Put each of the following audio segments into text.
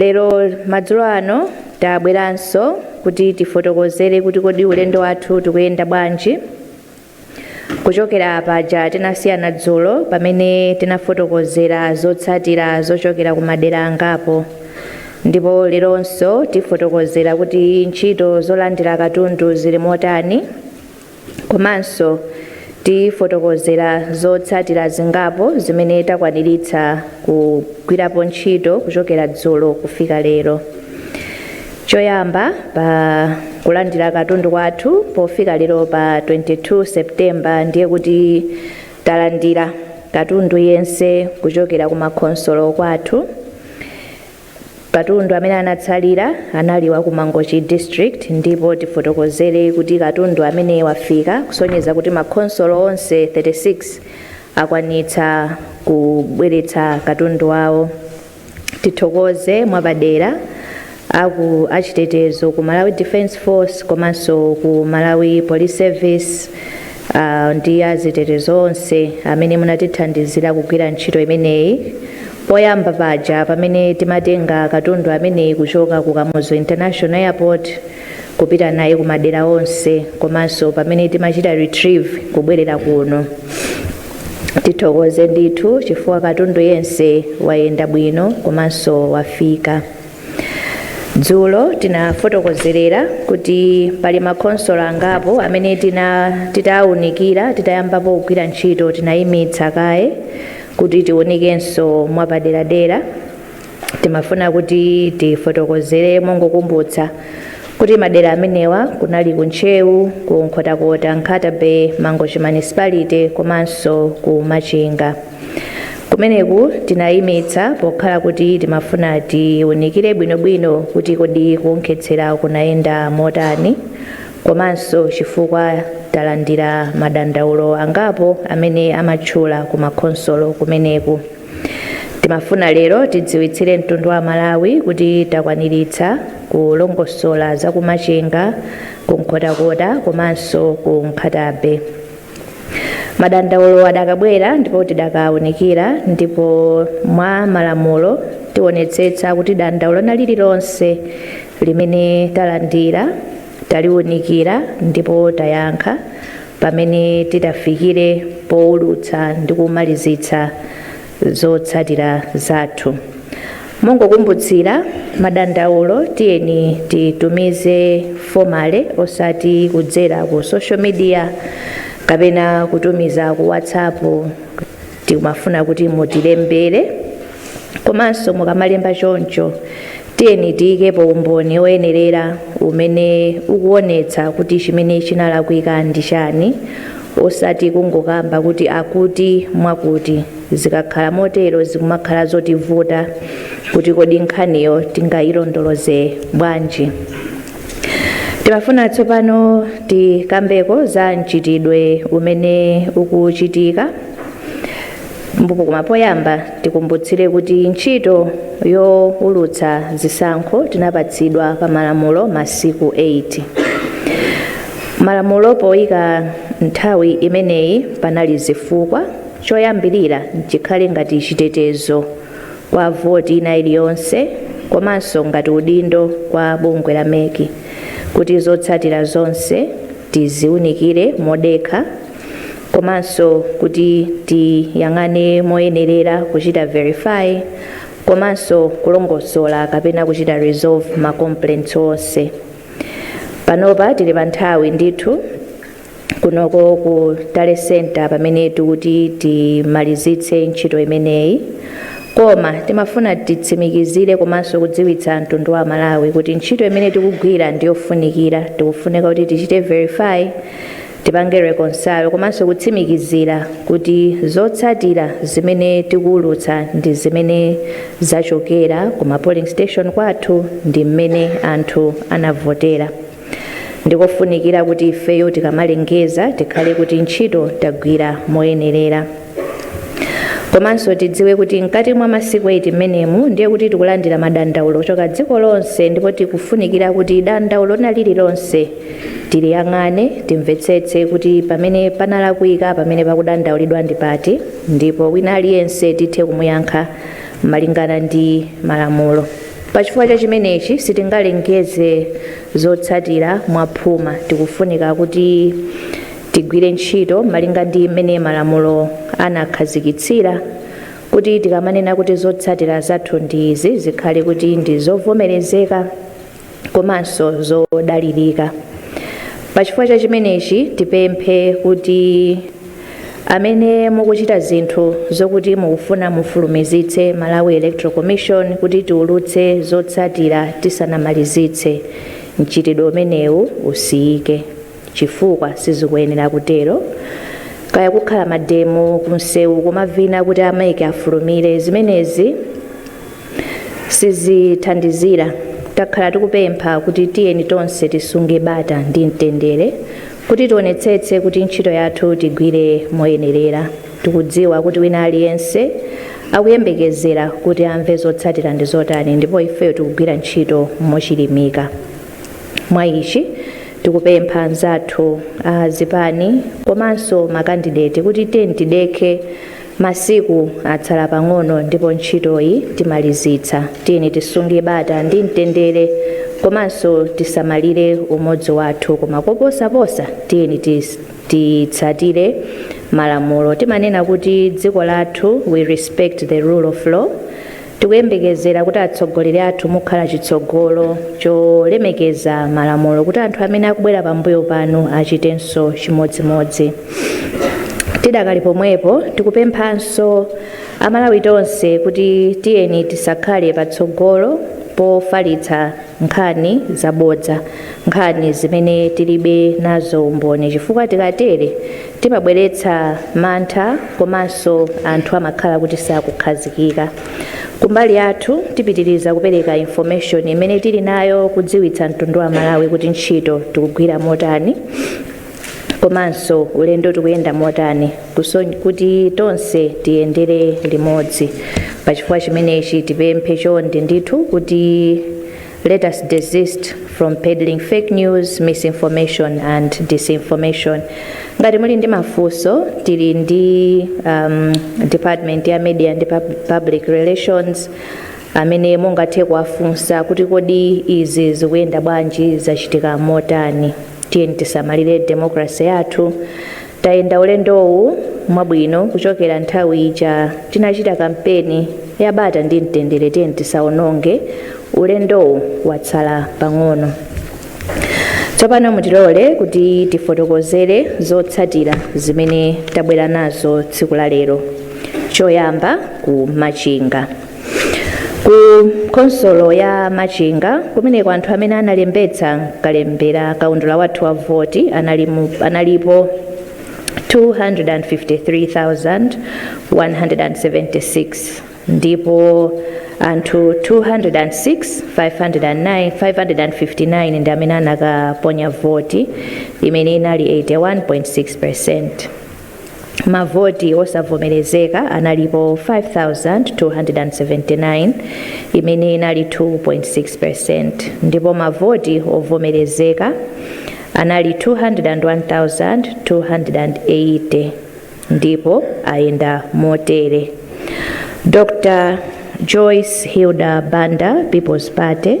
Lero madzulo ano tabweranso kuti tifotokozere kuti kodi ulendo wathu tikuyenda bwanji kuchokera paja tinasiyana dzulo pamene tinafotokozera zotsatira zochokera ku madera angapo ndipo leronso tifotokozera kuti ntchito zolandira katundu zili motani Komanso tifotokozera zotsatira zingapo zimene takwaniritsa kugwirapo ntchito kuchokera dzulo kufika lero. Choyamba, pa kulandira katundu kwathu pofika lero pa 22 September ndiye kuti talandira katundu yense kuchokera ku makhonsolo kwathu Katundu amene anatsalira anali wa ku Mangochi District ndipo tifotokozere kuti katundu amene wafika kusonyeza kuti makhonsolo onse 36 akwanitsa kubweretsa katundu wawo. Tithokoze mwapadera aku achitetezo ku Malawi Defence Force komanso ku Malawi Police Service ah, ndi achitetezo onse amene munatithandizira kugwira ntchito imeneyi Poyamba paja pamene timatenga katundu ameneyi kuchoka ku Kamuzu International Airport kupita naye ku madera onse komanso pamene timachita retrieve kubwerera kuno, tithokoze ndithu chifukwa katundu yense wayenda bwino komanso wafika. Dzulo tinafotokozerera kuti pali makhonsolo angapo amene titawunikira titayambapo kugwira ntchito tinayimitsa kaye Kuti tiunikenso mwapaderadera, timafuna kuti tifotokozere mongokumbutsa kuti madera amenewa kunali ku Ntcheu, ku Nkhotakota, Nkhata Bay, Mangochi Municipality komanso ku Machinga. Kumeneku tinayimitsa pokhala kuti timafuna tiunikire bwinobwino kuti kodi kuonkhetsera kunayenda motani, komanso chifukwa talandira madandaulo angapo amene amatchula ku makhonsolo kumeneku. Timafuna lero tidziwitsire mtundu wa Amalawi kuti takwaniritsa kulongosola za ku Machinga, ku Nkhotakota komanso ku Nkhata Bay. Madandaulo adakabwera ndipo tidakawunikira ndipo mwa malamulo tiwonetsetsa kuti dandaulo lina lililonse limene talandira, taliunikira ndipo tayankha pamene titafikire poulutsa ndi kumalizitsa zotsatira zathu. Mongokumbutsira, madandaulo tiyeni titumize formally osati kudzera ku social media kapena kutumiza ku WhatsApp Tikumafuna kuti mutilembere komanso mukamalemba choncho tiyeni tiyikepo umboni oyenerera umene ukuonetsa kuti chimene chinalakwika ndi chani osati kungokamba kuti akuti mwakuti zikakhala motero zikumakhala zotivuta kuti kodi nkhaniyo tingayilondoloze bwanji timafuna tsopano tikambeko za mchitidwe umene ukuchitika mbupo koma poyamba tikumbutsire kuti ntchito youlutsa zisankho tinapatsidwa pa malamulo masiku 8 malamulo poyika nthawi imeneyi panali zifukwa choyambirira chikhale ngati chitetezo kwa voti ina iliyonse komanso ngati udindo kwa bungwe la mec kuti zotsatira zonse tiziunikire modekha komanso kuti tiyang'ane moyenerera kuchita verify komanso kulongosola kapena kuchita resolve ma complaints onse panopa tili pa nthawi ndithu kunoko ku tally center pamene tikuti timalizitse ntchito imeneyi koma timafuna titsimikizire komanso kudziwitsa mtundu wa malawi kuti ntchito imene tikugwira ndiyofunikira tikufunika kuti tichite verify tipange reconcile komanso kutsimikizira kuti zotsatira zimene tikuwulutsa ndi zimene zachokera ku ma polling station kwathu ndi mmene anthu anavotera ndikofunikira kuti ifeyo tikamalengeza tikhale kuti ntchito tagwira moyenerera komanso tidziwe kuti mkati mwa masiku 8 mmenemu ndiye kuti tikulandira madandaulo kuchoka dziko lonse ndipo tikufunikira kuti dandaulo lina lililonse tiliyang'ane timvetsetse kuti pamene panalakwika pamene pakudandaulidwa ndi pati ndipo wina aliyense tithe kumuyankha malingana ndi malamulo. Pachifukwa cha chimenechi sitingalengeze zotsatira mwa phuma. Tikufunika kuti tigwire ntchito malinga ndi mmene malamulo anakhazikitsira kuti tikamanena kuti zotsatira zathu ndi izi zikhale kuti ndi zovomerezeka. komanso zodalirika pa chifukwa cha chimenechi tipemphe kuti amene mukuchita zinthu zokuti mukufuna mufulumizitse malawi electoral commission kuti tiulutse zotsatira tisanamalizitse mchitidwe umenewu usiyike chifukwa sizikuyenera kutero kaya kukhala mademo kumsewu kumavina kuti a MEC afulumire zimenezi sizithandizira takhala tikupempha kuti tiyeni tonse tisunge bata ndi mtendere kuti tionetsetse kuti ntchito yathu tigwire moyenerera tikudziwa kuti wina aliyense akuyembekezera kuti amve zotsatira ndi zotani ndipo ifeyo tikugwira ntchito mochilimika mwa ichi Tikupempha anzathu a zipani komanso makandideti kuti tiyeni tidekhe, masiku atsala pang'ono ndipo ntchitoyi timalizitsa. Tiyeni tisunge bata ndi mtendere komanso tisamalire umodzi wathu koma koposaposa tiyeni titsatire malamulo. Timanena kuti dziko lathu, we respect the rule of law. Tikuyembekezera kuti atsogoleri athu mukhala chitsogolo cholemekeza malamulo kuti anthu amene akubwera pambuyo panu achitenso chimodzimodzi. Tidakali pomwepo, tikupemphanso Amalawi tonse kuti tiyeni tisakhale patsogolo pofalitsa nkhani zabodza, nkhani zimene tilibe nazo umboni chifukwa tikatere Timabweretsa mantha komanso anthu amakhala kuti sakukhazikika. Kumbali yathu tipitiliza kupereka information imene tili nayo kudziwitsa mtundu wa Amalawi kuti ntchito tikugwira motani komanso ulendo tikuyenda motani kuti tonse tiyendere limodzi. Pachifukwa chimenechi tipemphe chonde ndithu kuti. Let us desist from peddling fake news, misinformation and disinformation. Ngati muli ndi mafunso tili ndi um, department ya media ndi pub- public relations amene mungathe kuwafunsa kuti kodi izi zikuyenda bwanji zachitika motani tiyeni tisamalire democracy yathu Tayenda ulendowu mwabwino kuchokera nthawi ija tinachita kampeni ya bata ndi mtendere tiyeni tisaononge ulendowu watsala pang'ono. Tsopano mutilole kuti tifotokozere zotsatira zimene tabwera nazo tsiku la lero. Choyamba ku Machinga. ku khonsolo ya machinga kumeneko anthu amene analembetsa kalembera kaundula wathu wa voti anali mu- analipo 253,176 ndipo anthu 206,559 ndi amene anakaponya voti imene inali 81.6 percent mavoti osavomerezeka analipo 5,279 imene inali 2.6% ndipo mavoti ovomerezeka anali 201,280 ndipo ayenda motere dr joyce hilda banda people's party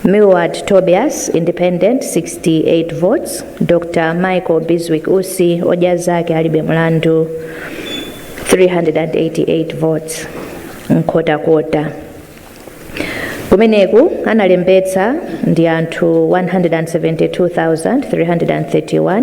Milward Tobias, Independent, 68 votes, Dr Michael Bizwick Usi, Odya Zake Alibe Mlandu, 388 votes, Nkhotakota. Kumeneko analembetsa ndi anthu 172,331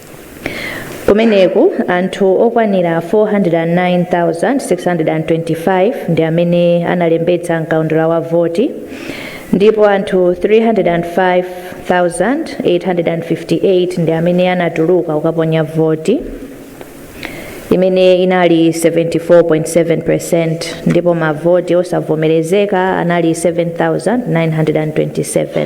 Kumeneko, anthu okwanira 409,625 ndi amene analembetsa m'kaundula wa voti ndipo anthu 305,858 ndi amene anatuluka kukaponya voti, imene inali 74.7 peresenti, ndipo mavoti osavomerezeka anali 7,927.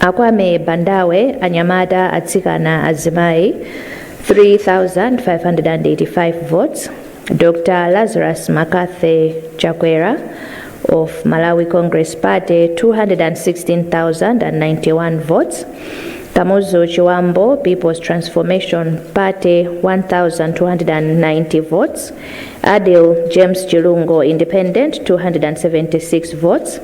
Akwame Bandawe Anyamata Atsikana Azimayi 3585 votes Dr Lazarus Makathe Chakwera of Malawi Congress Party 216,091 votes Kamuzu Chiwambo People's Transformation Party 1,290 votes Adil James Chilungo Independent 276 votes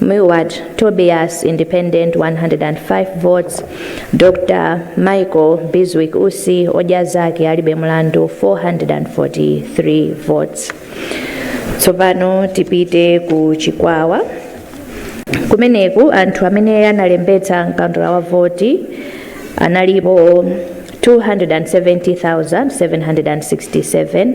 Milward Tobias, Independent, 105 votes, Dr Michael Bizwick Usi, Odya Zake Alibe Mlandu, 443 votes. Tsopano tipite ku Chikwawa. Kumeneko anthu amene analembetsa mkaundula wa voti analipo 270,767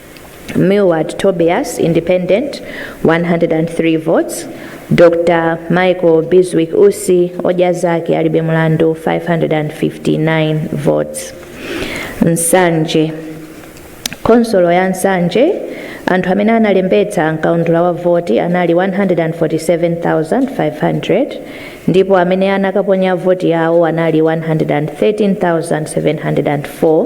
Milward Tobias, independent, 103 votes. Dr. Michael Bizwick Usi, odya zake alibe mlandu, 559 votes. Nsanje. Khonsolo ya Nsanje, anthu amene analembetsa mkaundula wa voti anali 147,500 ndipo amene anakaponya voti yawo anali 113,704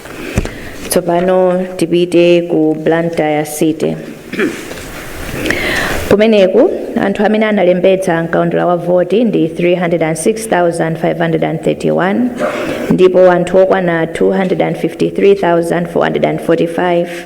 tsopano tipite ku blantyre city kumeneko anthu amene analembetsa mkaundula wa voti ndi 306,531 ndipo anthu okwana 253,445